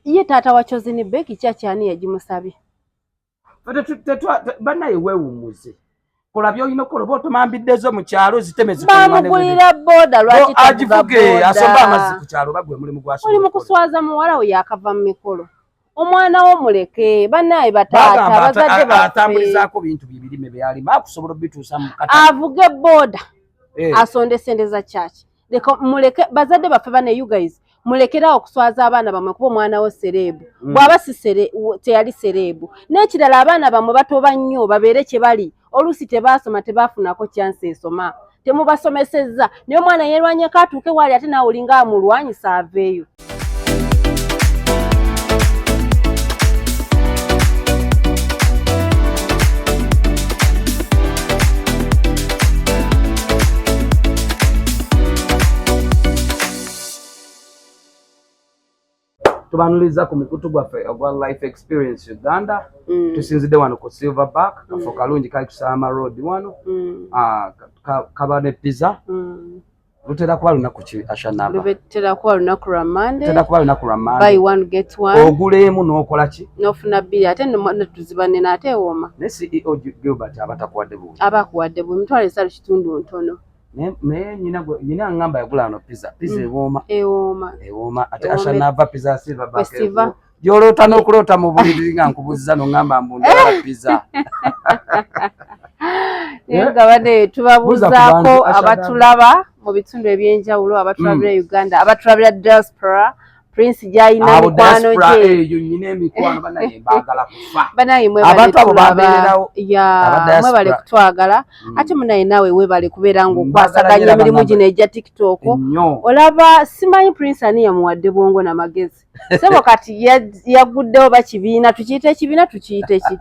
ye taata wa chosen beki kyaki ani yagimusabye banaye wewumuze kola byolina okukola oba otomambiddezo mu kyalo ziteme zibamugulira boda lwakiagivuge asomba amazzi ku kyalo oba gwe mulimu gwasoli mu kuswaza muwala we yakava mu mikolo omwana wo muleke banaye bataata bazadde batambulizaako bintu byebirime byeyalima akusobola obituusa mu avuge boda eh. asonde sente za kyaki leka muleke bazadde baffe bane you guys mulekerawo okuswaza abaana bamwe kuba omwana wo sereebu mm. bwaba si teyali sereebu n'ekirala abaana bamwe batoba nnyo babeere kye bali oluusi tebaasoma tebaafunako kyansi esoma temubasomesezza naye omwana yerwanyeko atuuke waali ate naawe olinga amulwanyisa aveeyo tubanulizza ku mukutu gwaffe ogwa life experience uganda mm. tusinzidde wano ku silverback mm. kafo kalungi kali kusama road wano mm. ah, kaba ne pizza lutera kuba lunaku ki ashanaba lubetera kuba lunaku lwa mande lutera kuba lunaku lwa mande buy one get one ogula emu n'okola ki n'ofuna bbiri ate netuziba nene ate ewoma ne ceo gilbert abatakuwadde buwi abakuwadde buwi mitwalo esalu kitundu ntono naye nyina nyina angamba yagula ano pizza pizza mm. ewoma ewoma ewoma ate ashanava pizza silver back gyoloota n'okuloota mu buliri nga nkubuzza nongamba mbundala pizza naye nga bane tubabuuzaako abatulaba mu bitundu ebyenjawulo abatulabira hmm. uganda abatulabira diaspora prince gyalina mikwano gyebanayemwebantu abo babeererawo mwebale kutwagala hmm. ate munaye naawe webale kubeera ngaokwasaganya emirimu gino egya tiktok olaba simanyi prince ani yamuwadde bwongo na magezi sebo kati yaguddewo bakibiina tukiyita ekibiina tukiyita eki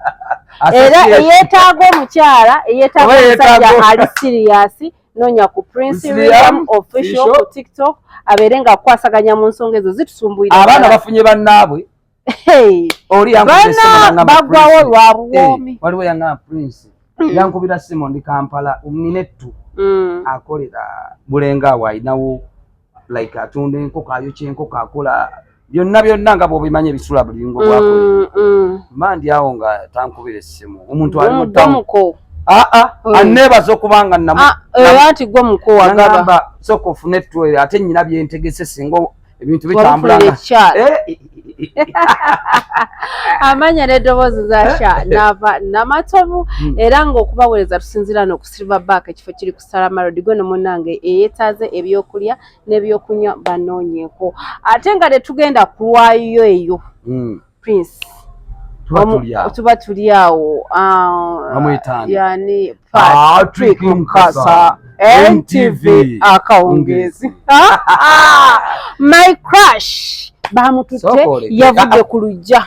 era eyetaaga omukyala eyetaaga omusajja ali siriyasi nonya ku prince william official ku tiktok abeere nga kukwasaganya mu nsonga ezo zitusumbuyira abaana bafunye bannaabwe olibana bagwawo lwa buwoomi eh, waliwo yangana prince mm. yankubira simo ndi kampala omnine ttu mm. akolera bulenga awo alinawo like atunda enkoko ayokya enkoko akola byonna byonna nga bwobimanyi ebisula buli lungo lwako mm, mm. mba ndi awo nga tankubira essimu omuntu ali mutamu aa ah, ah, mm. anneebaza okuba nga nati ah, gwe mukuwagamba sooka ofune ettwere ate nyina byentegese singa ebintu bitambulanga amanya n'eddoboozi zasha eh, eh. nava namatovu hmm. era ng'okubaweereza tusinziira n'okusilver back ekifo kiri ku salamalodi gwe no munange eyetaaze ebyokulya n'ebyokunywa banoonyeko ate nga tetugenda kulwayo eyo mm. prince tuba tuli awo ah, yani patrick mukasa ntv akawungezi my crush bamututte yavudde ku lujja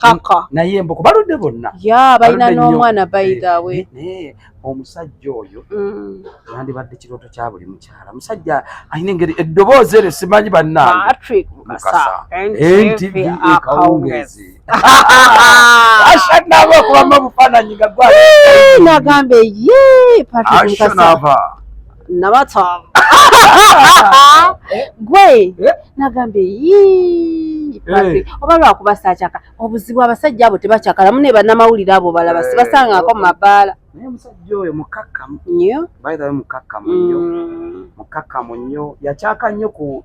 kaka naye mbuko baludde bonna ya balina n'omwana eh, bayidawe eh, eh, omusajja oyo mm. yandibadde kirooto kya buli mukyala omusajja alina engeri eddoboozi eryo simanyi bannangeakawungezi ashanaba okubamu obufaananyi nga gwanagamba ye patrick mukasa nabatwaba gwe eh? nagambye yii eh. oba lwakuba sakyaka obuzibu abasajja abo tebakyakala mune banamawulire abo balaba eh, sibasangako mu mabaala naye omusajja oyo mukakkamu nyo baithawe mukakkamu nyo mm. mukakkamu nyo yakyaka nnyo ku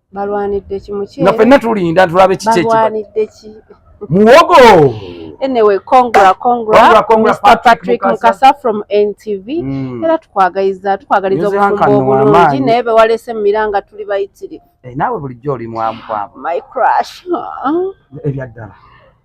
balwanidde ki mukyere nga fenna tulinda tulabe kiki ekibalwanidde ki muwogo anyway congra congra, congra, congra Mr. Patrick, Patrick Mukasa. Mukasa from NTV mm. era tukwagaliza tukwagaliza obufumbo obulungi naye bewalese mu miranga tuli bayitirivu eh, naawe bulijjo oli mwamukwabo my crush ebyaddala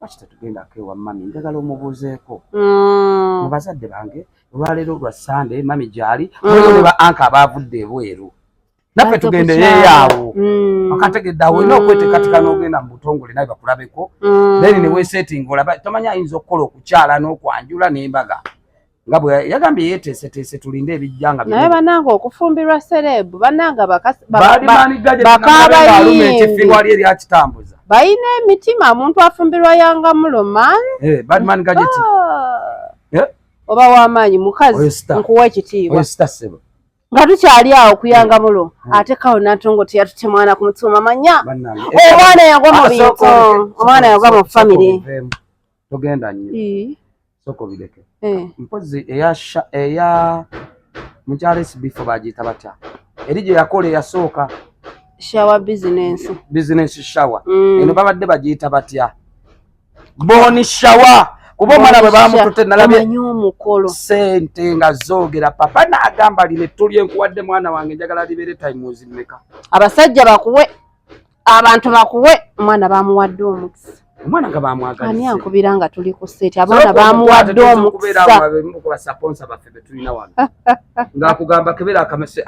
lwaki tetugendako ewa mami njagala omubuuzeeko mm. mu bazadde bange olwaleero lwa sande mami gyali mulimu mm. ne ba anka abaavudde ebweru naffe tugendeyeeyo mm. akategedde awo olina okweteekateeka n'ogenda mu butongole naye bakulabeko then ne weesetting olaba tomanya ayinza okukola okukyala n'okwanjula n'embaga nga bwe yagambye yeeteeseteese tulinde ebijja nga naye banange okufumbirwa sereebu banange bakaabayiingi ekifirwa lye lyakitambuza balina emitima omuntu afumbirwa yanga muloman eh, badman gajeti ah. eh? oba wamaanyi mukazi nkuwa ekitiibwa nga tukyali awo kuyanga mulo hmm. ate kawo natongo teyatute mwana ku mutima manya eh, omwana yagwa mu bintu omwana yagwa mu famiry togenda nyo soka obireke eh. mpozi eya eya mukyala esibifo bagiyita batya eri gye yakola eyasooka shawa bizinensi bizinensi shawa mm. eno babadde bagiyita batya boni shawa kuba omwana bwe bamutute nalabye sente nga zoogera papa naagamba lino ettu lyenkuwadde mwana wange njagala libeere times meka abasajja bakuwe abantu bakuwe omwana bamuwadde omukisa omwana nga bamwagala ani ankubira nga tuli ku seti abaana bamuwadde omukisa ngakugamba kebera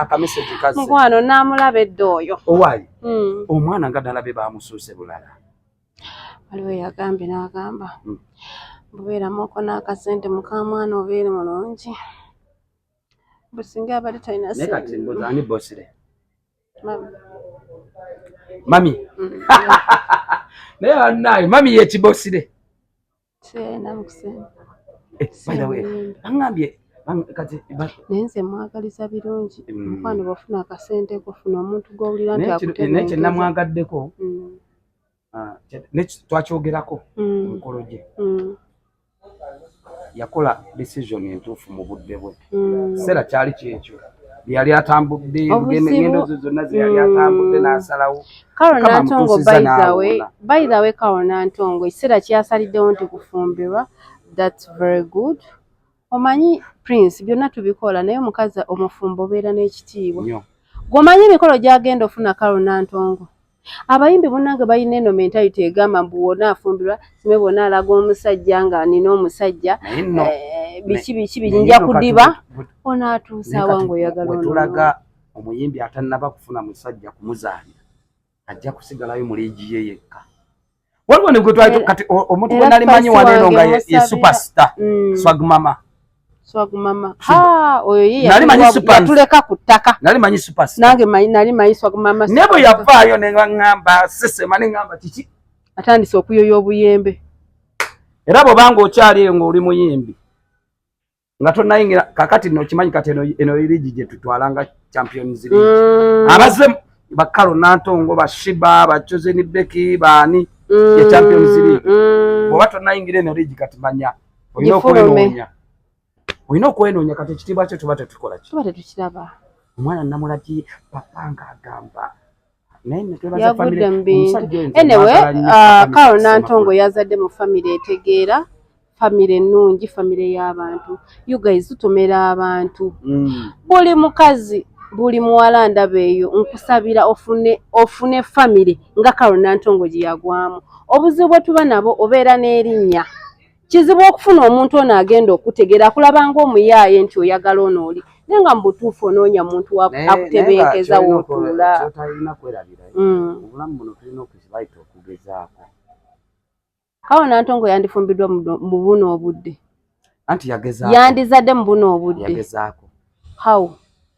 akameseji kazi mukwano namulaba edda oyo owayi hmm. omwana nga ddala be bamusuuse bulala waliwo yagambye nagamba hmm. bubeeramuko n'akasente mukamwana obeere mulungi businga abali talina sente Mami. Mami. Mm. Naye banaye mami ye kibosire. Sena mkusema. Eh, by the way, angambye kati naye nze mwagaliza birungi mm. mukwano bwofuna akasente kofuna omuntu gwowulira nti akutenaye kyenamwagaddeko mm. ah, twakyogerako mm. omukolo gye mm. yakola decision entuufu mu budde bwe mm. kiseera kyali kyekyo yali atambudde ngendo zo zonna zeyali atambudde n'asalawo karonantongo by the way karonantongo ekiseera kyasaliddewo nti kufumbirwa thats very good Omanyi Prince byonna tubikola naye omukazi omufumbo obeera n'ekitiibwa. Gwomanyi emikolo gyagenda ofuna Karo Nantongo. Abayimbi munange balina eno mentality egamba mbu wona afumbirwa sime bona alaga omusajja nga nina omusajja eh, biki biki bijinja kudiba ona atuusa awange oyagala onolaga omuyimbi atanaba kufuna musajja kumuzaalira ajja kusigalayo mu liigi ye yekka. waliwo ne gwe twali eh, kati omuntu gwe nali manyi wano eno nga ye superstar mm. swag mama swag mama ha oyo ye nali manyi super tuleka kutaka nali manyi superstar nange manyi nali manyi swag mama nebo yavayo ne ngamba sese mani ngamba kiki atandise okuyoya obuyembe era bwobanga okyali eyo ng'oli muyimbi nga tonayingira kakati no kimanyi kati eno eno ligi gye tutwala nga champions league mm. abaze bakalo nantongo ba shiba ba chosen beki bani mm. ya champions league mm. oba tonayingira eno ligi kati manya oyina okwenonya oyina okwenonya kati ekitiibwa kyo tuba tetukola ki tuba tetukiraba omwana namulaki papa nga agamba yagudde mu bintu enewe karo uh, nantongo yazadde mu famire etegeera famire ennungi famire y'abantu uguys tutomera abantu mm. buli mukazi buli muwala ndaba eyo nkusabira ofune ofune famire nga karo nantongo gye yagwamu obuzibu bwe tuba nabo obeera n'erinnya kizibu okufuna omuntu ono agenda okutegeera akulaba ngaomuyaaye nti oyagala ono oli naye nga mu butuufu onoonya muntu akutebenkeza wootuulaotalina kwerabira mm. obulamu buno tulina okuzibayita okugezaako awo nantongo yandifumbiddwa mu buno obudde anti yageza yandizadde mu buno obudde yagezaako how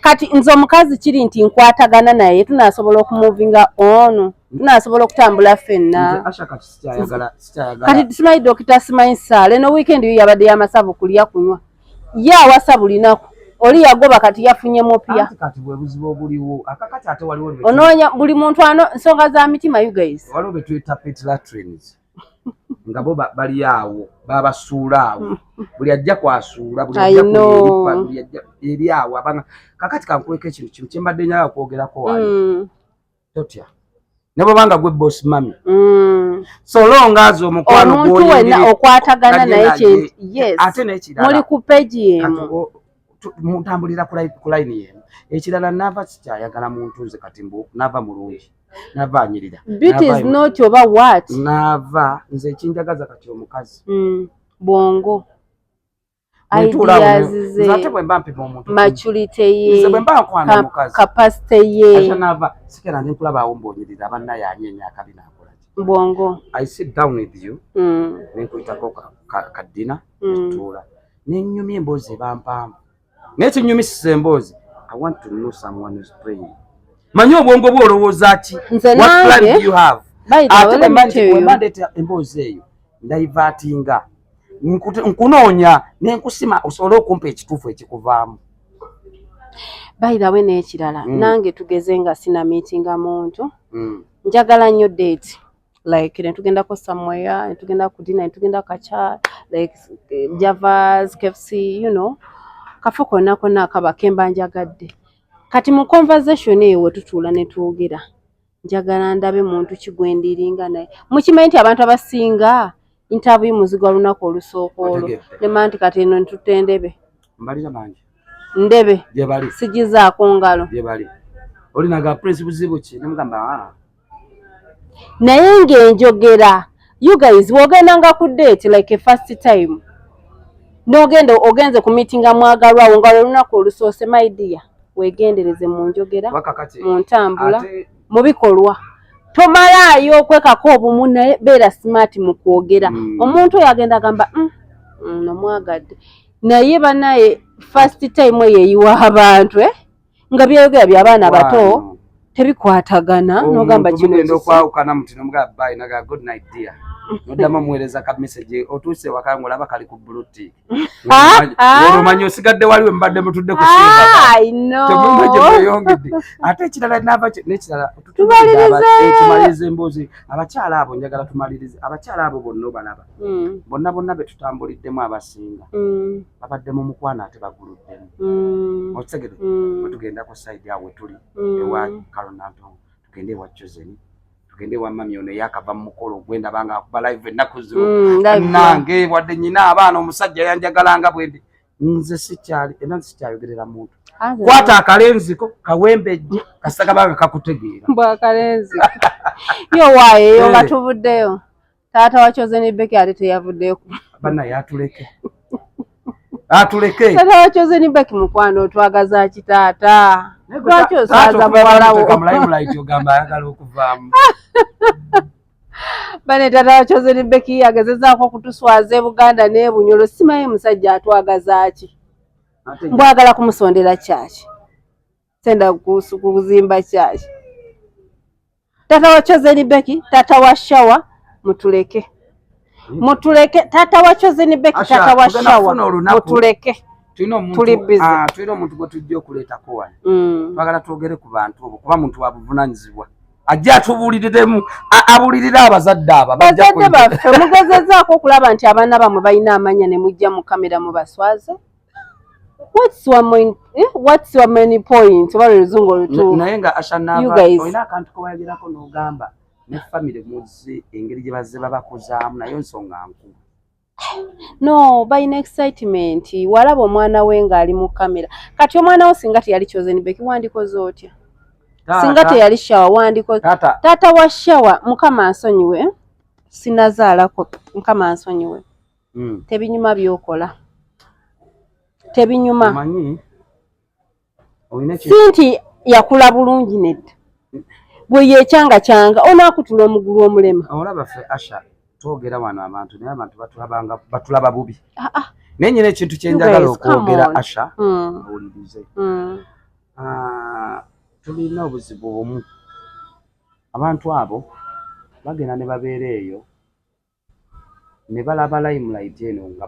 kati nze omukazi kiri nti nkwatagana naye tunasobola okumuvinga ono tunasobola okutambula ffenna kati simanyi dokita simanyi saala eno weekend yo yabadde yamasavu kulya kunywa ye awasa bulinaku oli yagoba kati yafunye mupya onoonya buli muntu ano nsonga za mitima you guys nga bo bali awo babasuula awo buli ajja kwasuula buli ajja kulipa buli ajja eri awo abanga kakati kankweka ekintu kino kye mbadde nyaga kwogerako wali mm. totya ne bwobanga gwe boss mami mm. so long as omukwano gwomuntu wena okwatagana naye kye yes ate nekirala muli ku page yemu mutambulira ku layini yemu ekirala nava sikyayagala muntu nze kati mbu nava mulungi nava anyirira nava nze ekinjagaza kati omukazi mm, bwongo ate bwemba mpima omuntumacuriteyekapasite yenava sikera ndi nkulabaawo mbonyirira abanna yanye emyaka binakolaki bwongo i sit down with you mm. nenkuyitako kadina mm. etuula nenyumya emboozi eba mpanvu naye kinyumisa emboozi i want to know someone is praying manyi obwongo bwo olowooza ki what plan do you have ate bwemandeta emboozi eyo ndaivatinga nkunoonya nenkusima osobole okumpa ekituufu ekikuvaamu bairawe n'ekirala mm. nange tugeze nga sina miitinga muntu mm. njagala nnyo deeti like netugendako somewhere netugenda ku dina netugenda kacha like eh, javas kfc you know kafa konna konna akaba kemba njagadde kati mu conversation eyo wetutuula netwogera njagala ndabe muntu kigwendiringa naye mukimanyi nti abantu abasinga intabuyi muzigo lunaku olusooka olwo nema nti kati eno ntutte ndebe ndebe sigizaako ngalo olinaga prince buzibu ki nemugamba ah. naye nga enjogera you guys wogendanga ku date like a first time nogenda ogenze ku meetinga mwagalwa awo nga lwelunaku olusoose my dear wegendereze mu njogera mu ntambula mu bikolwa tomalaayo okwekako obumu naye beera smart mu kwogera hmm. omuntu oyo agenda agamba mm, mm, nomwagadde naye banaye first time eyo eyiwa abantu eh? nga byayogera bya baana bato tebikwatagana nogamba kinokwawukana muti nomugaa bayi nagaa good night dear noddamu omuweereza ka message otuuse waka nga olaba kali ku blutik ah, ah. olwomanyi osigadde waliwe mubadde mutudde kusiiatemumagyemweyongedde ah, ate ekirala nava nekirala tumaliriza eh, emboozi abakyala abo njagala tumalirize abakyala abo bonna obalaba hmm. bonna bonna betutambuliddemu abasinga hmm. babadde mu mukwano ate baguluddemu mm. okitegede mm. wetugenda ku side awo wetuli mm. ewa kalonantongo tugende ewa chosen tugende ewa mami ono eyakava mu mukolo ogwenda banga akuba live ennaku zino mm, nange wadde nyina abaana omusajja yanjagalanga bwendi nze sikyali era nze sikyayogerera muntu kwata akalenziko kawembejje kasita kabanga kakutegeera mbwa akalenziko yo waayo eyo nga eh. tuvuddeyo Taata wa Chosen Becky ate teyavuddeyo ku bana yatuleke atuleke taata wa Chosen Becky mukwano otwagaza ki taata lwaki osaaza muwala wo ogamba ayagala okuvaamu bane taata wa Chosen Becky agezezaako okutuswaza e Buganda n'e Bunyoro simanyi musajja atwagaza ki mbwagala kumusondera kyaki tenda kuzimba kyayi tata wa chozeni beki tata wa shawa mutuleke mutuleke tata wa chozeni beki tata wa shawa mutuleke tulina omuntu ah, tulina omuntu gwe tujja okuleetako wano mm. twagala twogere ku bantu obo kuba muntu wabuvunanyizibwa ajja atubuuliriremu abuulirire abazadde abo bazadde baffe mugezezaako okulaba nti abaana bamwe balina amanya ne mujja mu kamera mubaswaze what's your main eh? what's your main point oba luzungu olutu naye nga ashanaba oyina akantu kowayagerako nogamba ne family muzi engeri gye bazze babakuzaamu nayo nsonga nkulu no balina excitement walaba omwana we ng'ali mu kamera kati omwana wo singa teyali chosenbek wandikoze otya singa teyali shawa wandikoze taata wa shawa mukama nsonyiwe sinazaalako mukama nsonyiwe mm. tebinyuma byokola tebinyuma si nti yakula bulungi nedda bwe yekyanga kyanga onaakutula omugulu omulema olaba fe asha twogera wano abantu naye abantu batulaba bubi ah, ah. naye nyina ekintu kyenjagala okwogera asha hmm. owulirize hmm. ah, tulina obuzibu bumu abantu abo bagenda ne babeera eyo ne balaba limelight eno nga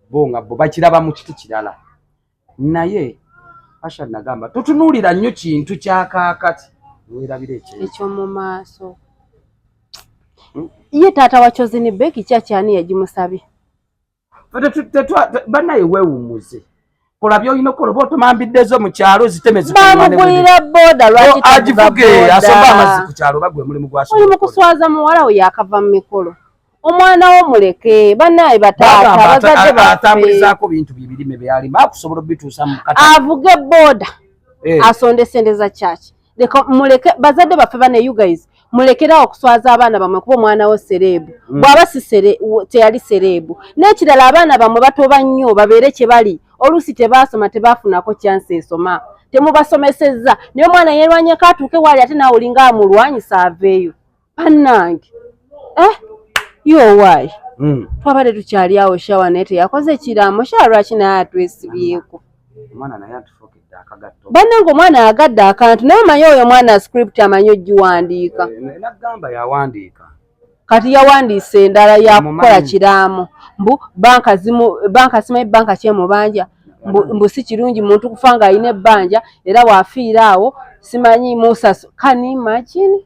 bo nga bo bakiraba mu kiti kirala naye asha nagamba totunuulira nnyo kintu kya kaakati weerabira ekyomu maaso hmm? ye taata wa chozini beki kyakyani yagimusabye banaye wewumuze kola byolina okukola oba otomambiddezo mu kyalo ziteme zibamugulira boda lwakiagivuge asomba amazzi ku kyalo oba gwe mulimu gwaoli mu kuswaza muwala we yakava mu mikolo omwana wo muleke banaye bataatabazadebatambulizaako bintu byebirime byalima akusobola obituusa mu avuge boda eh. asonde sente za kyaki leka muleke bazadde baffe bane you guys mulekerawo okuswaza abaana bamwe kuba omwana wo sereebu mm. bw'aba si teyali sereebu n'ekirala abaana bamwe batoba nnyo babeere kye bali oluusi tebaasoma tebaafunako kyansi esoma temubasomesezza naye omwana yeerwanyeko atuuke waali ate naawe olinga amulwanyisa aveeyo bannange eh yowayi hmm. twabadde tukyali awo shawa naye teyakoze kiraamo shawa lwaki naye atwesibyeko bannange omwana agadde akantu naye omanyi oyo omwana script amanyi ogiwandiika eh, kati yawandiise endala yakukola kiraamo mbu banka zimu banka simanyi banka kyemubanja mbu si kirungi muntu kufa ng'alina ebbanja era wafiira awo simanyi musaso kani imagine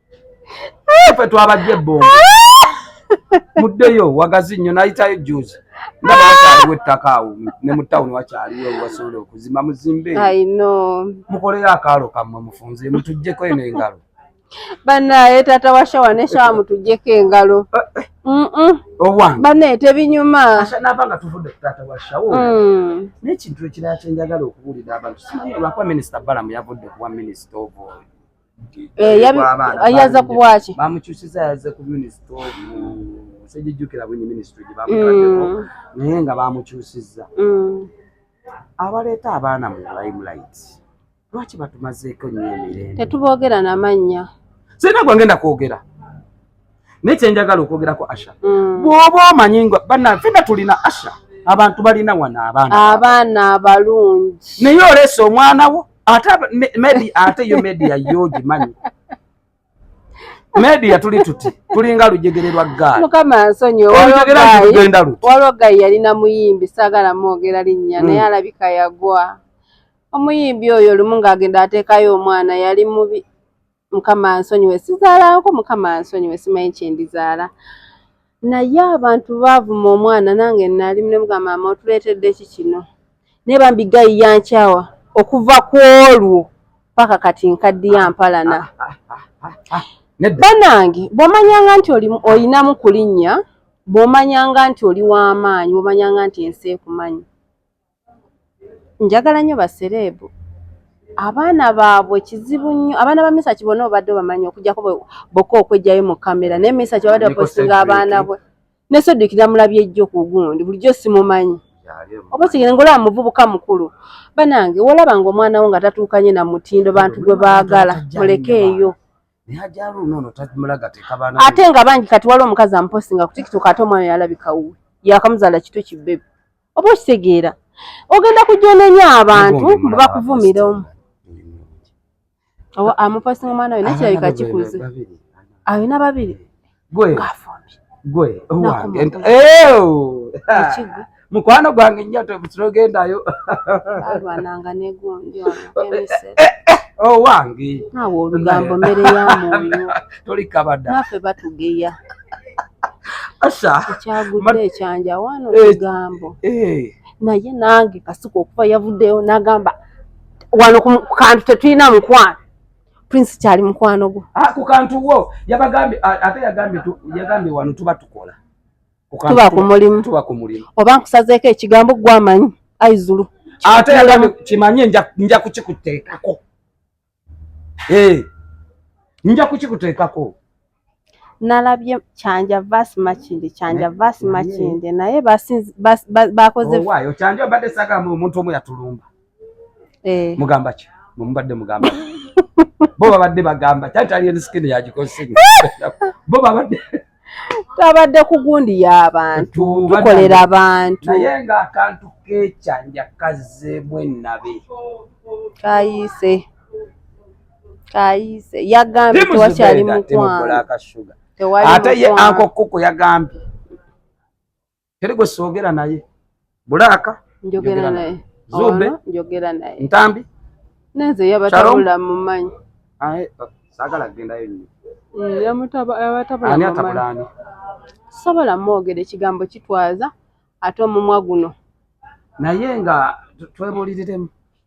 ffe twabajja ebbombo muddeyo wagazi nnyo nayitayo juzi nga bakyaliwo ettaka awo ne mu tawuni wakyaliwo wasobola okuzimba muzimbe mukoleyo akaalo kammwe mufunze mutujjeko eno engalo banaye taata wa shawa ne shawa mutujjeko engalo eh, eh. banaye tebinyuma nava nga tuvudde ku taata wa shawo mm. nekintu ekirala kyenjagala okubuulira abantu simanyi olwakuba minisita balamu yavudde kuwa minisita oboyo eh, yaza kubwaki bamukyusiza yaze ku minisita sejijukira bwenyi minisitry gyebamukaddeko mm. naye nga bamukyusiza mm. abaleeta abaana mu limelight lwaki batumazeeko nyo emirembe tetubogera namannya sirina gwangenda kwogera naye kyenjagala okwogerako asha mm. bwoba omanyi nga banafena tulina asha abantu balina wano abaana abaana abalungi naye oleesa omwana wo ate medi ate yo media yogimanyi media tuli tuti tulinga lujegere lwa gaali mukama nsonyiwe waliwo gayi yalina muyimbi saagala mwogera linnya mm. naye alabika yagwa omuyimbi oyo lumu ng'agenda ateekayo omwana yali mubi mukama nsonyiwe sizaalako mukama nsonyiwe simanyi kyendizaala naye abantu baavuma omwana nange nali nemugamba mama otuleetedde ki kino naye bambi gayi yankyawa okuva ku olwo paka kati nkaddiya mpalana banange bwomanyanga nti olinamu kulinnya bwomanyanga nti oli w'amaanyi bwomanyanga nti ensi ekumanyi Njagala nnyo ba sereebu, abaana baabwe kizibu nnyo, abaana ba Misach bona obadde obamanyi okujjako boka okwejjayo mu camera naye Misach abadde apostinga abaana bwe ne Cedric namulabye jjo ku gundi bulijjo simumanyi oba kigenda ngolaba muvubuka mukulu banange wolaba nga omwana wo nga tatuukanye na mutindo bantu gwe baagala mulekeeyo ate nga bangi kati waliwo omukazi amupostinga ku tiktok ate omwana yalabika wuwe yakamuzaala kito kibebe oba okitegeera ogenda kujonenya abantu bakuvumira omu amupostinga omwana we nakirabika kikuze alina babiri gwe gwe owange mukwano gwange nnyo tebutirogendayo alwananga negundi owange eh, eh, oh, nawe olugambo mmere ya mwoyo tolikabada naffe batugeya asha ekyagude ekyanja wano olugambo eh, naye nange kasuka okuva yavuddeyo nagamba wano ku kantu tetulina mukwano prince kyali mukwano gwo ah, ku kantu wo yabagambye ate yagambye yagambye wano tuba tukola tuba ku mulimu tuba ku mulimu oba nkusazeeko ekigambo gwamanyi aizulu ate yagambye kimanye nja kukikuteekako eh, nja kukikuteekako nalabye kyanja vas makinde kyanja vas makinde naye bakoze oh, kyanja mbadde sagamba omuntu omu yatulumba eh. mugamba ki mubadde mugamba bo babadde bagamba kyatalienskini yagikosi bo babadde twabadde ku gundi y'abantu tukolera abantu naye nga akantu kekyanja kazzeemu ennabe kayiise kayise yagambye tewakyali mukwano ate ye anko kuku yagambye teri gwe soogera naye bulaaka njogera naye zube njogera naye ntambi nenze yabatabula mumanyi uh, sagala gendayo nyo mm, yabatabulaani sobola mwogera ekigambo kitwaza ate omumwa guno naye nga twebuliriremu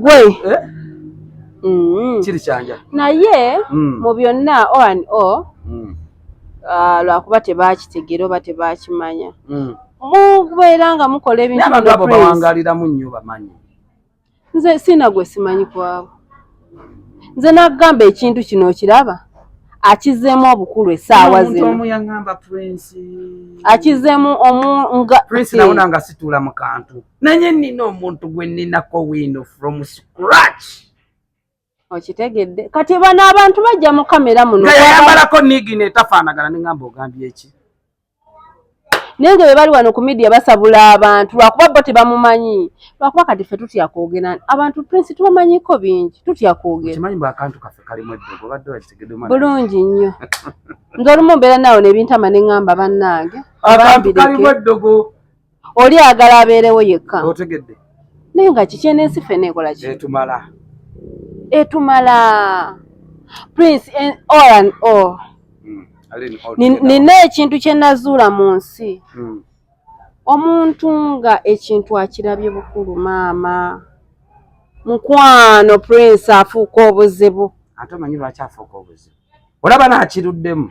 gwe eh? mm. kiri kyanja naye mm. mu byonna o an o mm. ah, lwakuba tebakitegera oba tebakimanya mubeera nga mukola ebintuabantu abo bawangaliramu nnyo bamanyi nze siina gwe simanyi kwabo nze nagamba ekintu kino okiraba akizeemu obukulu esaawa zinoakizeemu omu nga prince nawona nga situula mu kantu naye nina omuntu gwe ninako wiino from scratch okitegedde kati bano abantu bajja mu kamera muno yayambalako nigi netafaanagana nengamba ogambye eki naye nga bebali wano ku midia basabula abantu lwakuba bo tebamumanyi lwakuba kati fe tutya kwogera abantu prince tubamanyiko bingi tutya kwogerabulungi nnyo nze olumu mbeera naawo nebintama nengamba bannange oli ayagala abeerewo yekka otegedde naye nga kiki enensi fena ekola ki etumala etumala prince oran o oh. hmm, nina ekintu kye nazuula mu nsi hmm. omuntu nga ekintu akirabye bukulu maama mukwano prince afuuka obuzibu ate omanyi lwaki afuuka obuzibu olaba naakiruddemu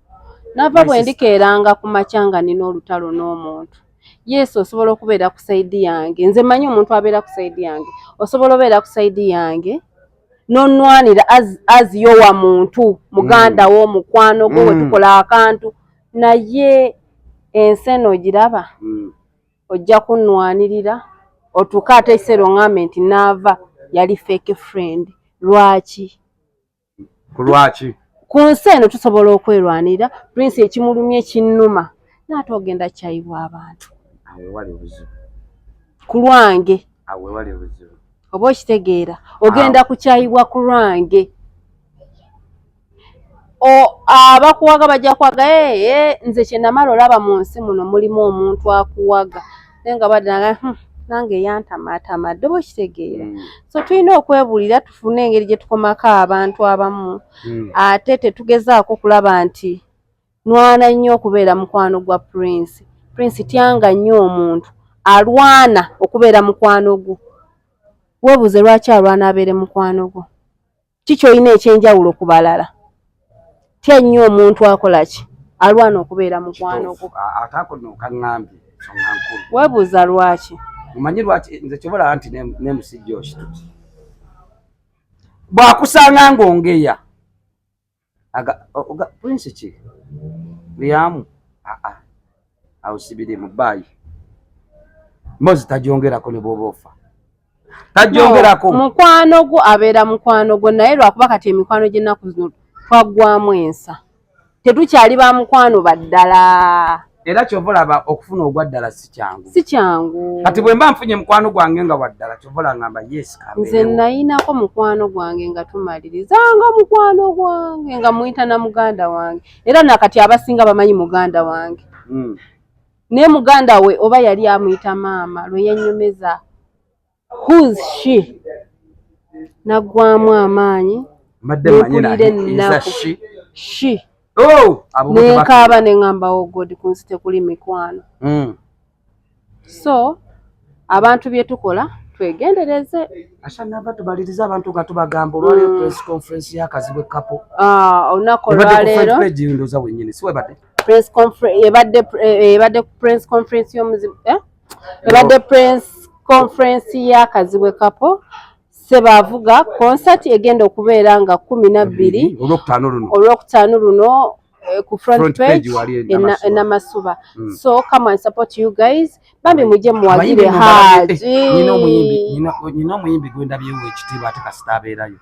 nava bwe ndikeeranga ku makya nga nina olutalo n'omuntu yesu osobola okubeera ku saidi yange nze manyi omuntu abeera ku saidi yange osobola obeera ku saidi yange nonwanira aziyo wa muntu muganda wo mm. mukwano gwo mm. wetukola akantu naye ensi eno ogiraba mm. ojja kunwanirira otuuka ate ekiseera ongambe nti naava yali fake friend lwaki ku lwaki ku nsi eno tusobola okwerwanira prince ekimulumye kinnuma naate ogenda kyayibwa abantu ku lwange oba okitegeera ogenda kukyayibwa ku lwange abakuwaga bajja kuwaga ee nze kyenamala olaba mu nsi muno mulimu omuntu akuwaga naye nga badanga hmm, nange yantamaatama dde oba okitegeera hmm. so tulina okwebuulira tufune engeri gye tukomako abantu abamu hmm. ate tetugezaako okulaba nti nwana nnyo okubeera mukwano gwa prince prince tyanga nnyo omuntu alwana okubeera mukwano gwo webuuze lwaki alwana abeere mukwano gwo ki kyolina ekyenjawulo ku balala tya nnyo omuntu akola ki alwana okubeera mukwano gwo ate ako nokaŋambye songa nkulu webuuza lwaki omanyi lwaki nze kyobalaba nti nemusijja okituki bwakusanga ngaongeya aga oga prince ki liamu a a au sibiri mubai mozi tajongera ko ne bobofa tajongera ko no, mukwano gwo abera mukwano gwo naye lwakuba kati emikwano gye naku zino twagwamu ensa tetukyali ba mukwano baddala era kyova olaba okufuna ogwa ddala si kyangu si kyangu kati bwe mba nfunye mukwano gwange nga wa ddala kyova olangamba yes nze nayinako mukwano gwange nga tumaliriza nga mukwano gwange nga muyita na muganda wange era nakati abasinga bamanyi muganda wange mm. naye muganda we oba yali amuyita maama lwe yenyumeza who's she naggwamu amaanyi nempulira ennaku she oh! nenkaaba neŋamba wo oh god kunsi tekuli mikwano hmm. so abantu bye tukola twegendereze asanava tubaliriza abantu nga tubagamba olwaleero hmm. press conference yakazibu ekapo ah, olunaku olwaleero ndoza wenyini siwebadde ebadde ku press conference yomuzibu eh? ebadde prince conference ya kazibwe kapo sebaavuga concert egenda okubeera nga kumi nabbiri olwokutaano luno eh, ku front, front page enamasuba mm. so come and support you guys bambi mujje muwagire haji nyina omuyimbi gwendabyewo ekitiibwa ate kasita abeerayo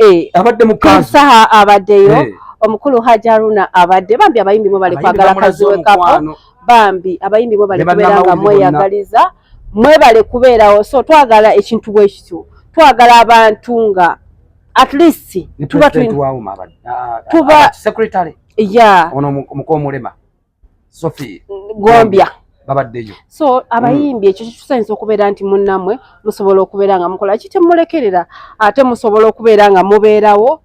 Eh, abadde mukansaha abaddeyo eh. omukulu hajaruna abadde bambi abayimbi mwe bali kwagala kaziwe kapo bambi abayimbi mwe bali kubeera nga mweyagaliza mwe bali kubeerawo so twagala ekintu bwe kityo twagala abantu nga at least tuba tuba ah, ah, secretary ya ono mukomulema Sophie Gombya babaddeyo so abayimbi ekyo kitusainza okubeera nti munnamwe musobola okubeera nga mukola ki temulekerera ate musobola okubeera nga mubeerawo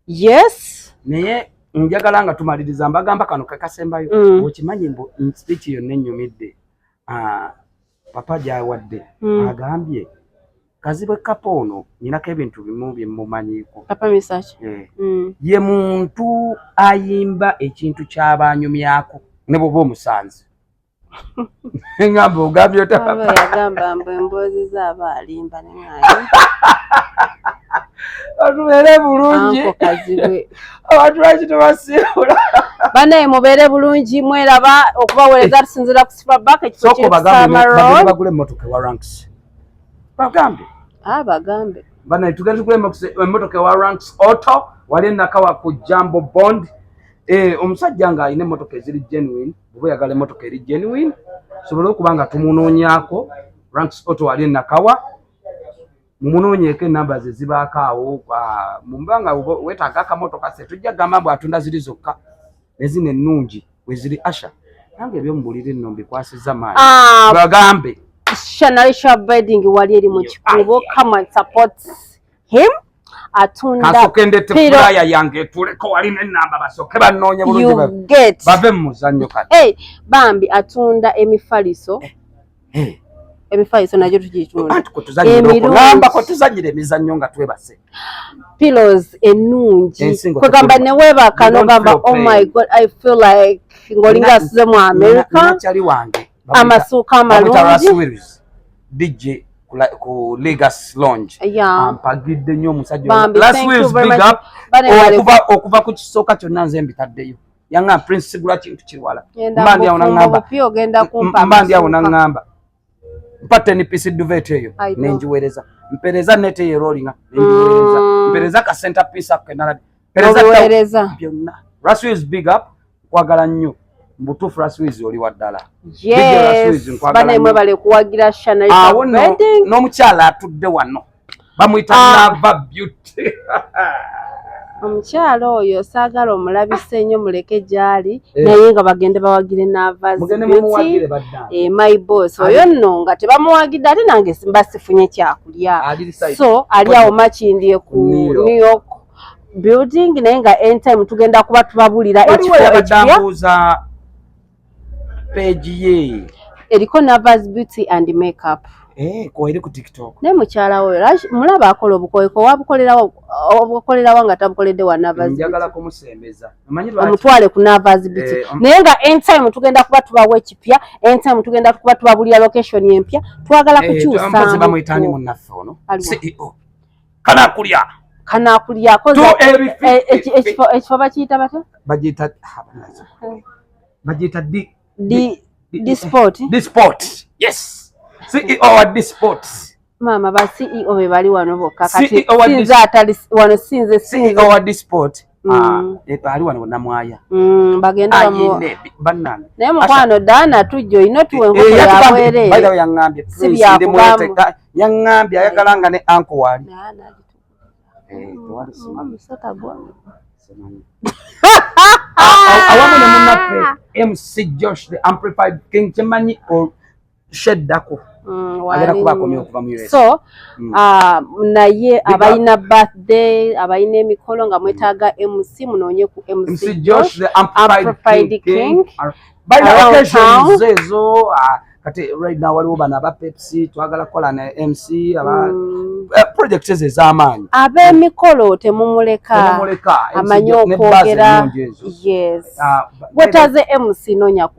yes naye njagala nga tumaliriza mbagamba kano kekasembayo mm. okimanyi mbu nsipiki yonna ennyumidde ah, papa gyawadde mm. agambye Kazibwe kapa ono ninako ebintu bimu bye mumanyiko. Kapa misach. Eh. Mm. Ye muntu ayimba ekintu kyabanyumyako ne bobo omusanze. Ngamba ogambye ota. Baba yagamba mbu emboozi zaba alimba ne ngayi. Atubeere bulungi. Anko Kazibwe. Abantu lwaki tebasiibula? Banaye mubeere bulungi mweraba okubaweereza tusinzira ku Superback ekifo kiri ku Summer Road. Bagule emmotoka ewa Ranks. bagambe ah, bagambe bana tugenda kulema emmotoka ewa ranks auto wali enakawa ku jambo bond eh, omusajja nga alina emmotoka eziri genuine oba oyagala emmotoka eri genuine sobole okuba nga tumunoonyako ranks auto wali enakawa mumunoonyeeko enamba ze zibaako awo ah, mumba nga wetaaga akamotoka se tujja gamba mbu atunda ziri zokka nezino ennungi weziri asha nange ebyomubuliri nno mbikwasiza maani ah, bagambe shanalisha abiding wali eri mu kikubo come and support him atundapiraya yange tuleko wali nenamba basoke banoonye bulungi bave mu muzannyo kati bambi atunda emifaliso eh. Hey. Ebifaiso nagyo tugitunda. Anti kutuzanyira kutuzanyira emizannyo nga twebase. Pillows ennungi. Kwegamba ne webaka no gamba oh my god I feel like ngolinga size mu America. Chali wange. Amasuka amalungi. DJ ku Legacy Lounge ampagidde nnyo omusajja okuva ku kisooka kyonna nze mbitaddeyo yanga prince sigula kintu kiwala mbandi awo nangamba mbandi awo nangamba mpate ni pisi duvet eyo nenjiwereza mpereza nete ye rolling nenjiwereza mm. mpereza ka center piece up kenala mpereza byonna rasu is big up kwagala nnyo mbutufu rasu is oli waddala yes bana mwe bale kuwagira shana awo no no mchala atudde wano bamuyita ah. lava beauty omukyala oyo saagala omulabisa ennyo muleke gyali eh. naye nga bagende bawagire navazimuwagire eh, my boss oyo nno nga tebamuwagidde ate nange simba sifunye kyakulya so ali awo makindye ku new york building naye nga entime tugenda kuba tubabulira ekifo ekipya page ye eriko navas beauty and makeup eh, koeri ku tiktok ne mukyala we mulaba akola obukoyeko wabukolerawa nga tabukoledde wa navasnjagala kumusembeza omutwale ku navas beauty eh, naye nga entime tugenda kuba tubawo ekipya entime tugenda kuba tubabulira location empya twagala eh, kukyusa bamwetani munaffe ono ceo kanakulya kanakulyako eh, ekifo bakiyita bata bagiyita eh. bagiyita disport yes ceo wa disport maama ba ceo be bali wano bokka kati e sinze atali wano sinze ceo wa disport Mm. Ah, eh, ali wano namwaya mm, bagenda banana naye mukwano dana tujja olina otuwa enkoko eh, yabwereere yaŋambye si byakubamu yaŋambye ayagala nga ne anko wali eh, awamu ne munaffe mc josh the amplified king kyemanyi sheddako mm, agenda kuba akomye okuva mu so mm. ah, naye abalina birthday abalina emikolo nga mwetaaga mc munoonye ku mc josh the amplified king balina occasions ezo ah, kati right now waliwo bano aba pepsi twagala kukola na mc aba mm. eh, project ezo ez'amaanyi ab'emikolo temumuleka amanyi okwogera yes ah, wetaze mc nonya ku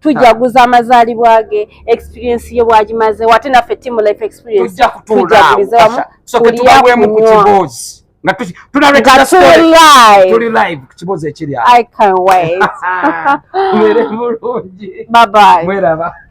tujaguza amazalibwa ge experience ye bwagimaze wate naffe team life experience tujagulize wamu tuliyakunywa Bye bye.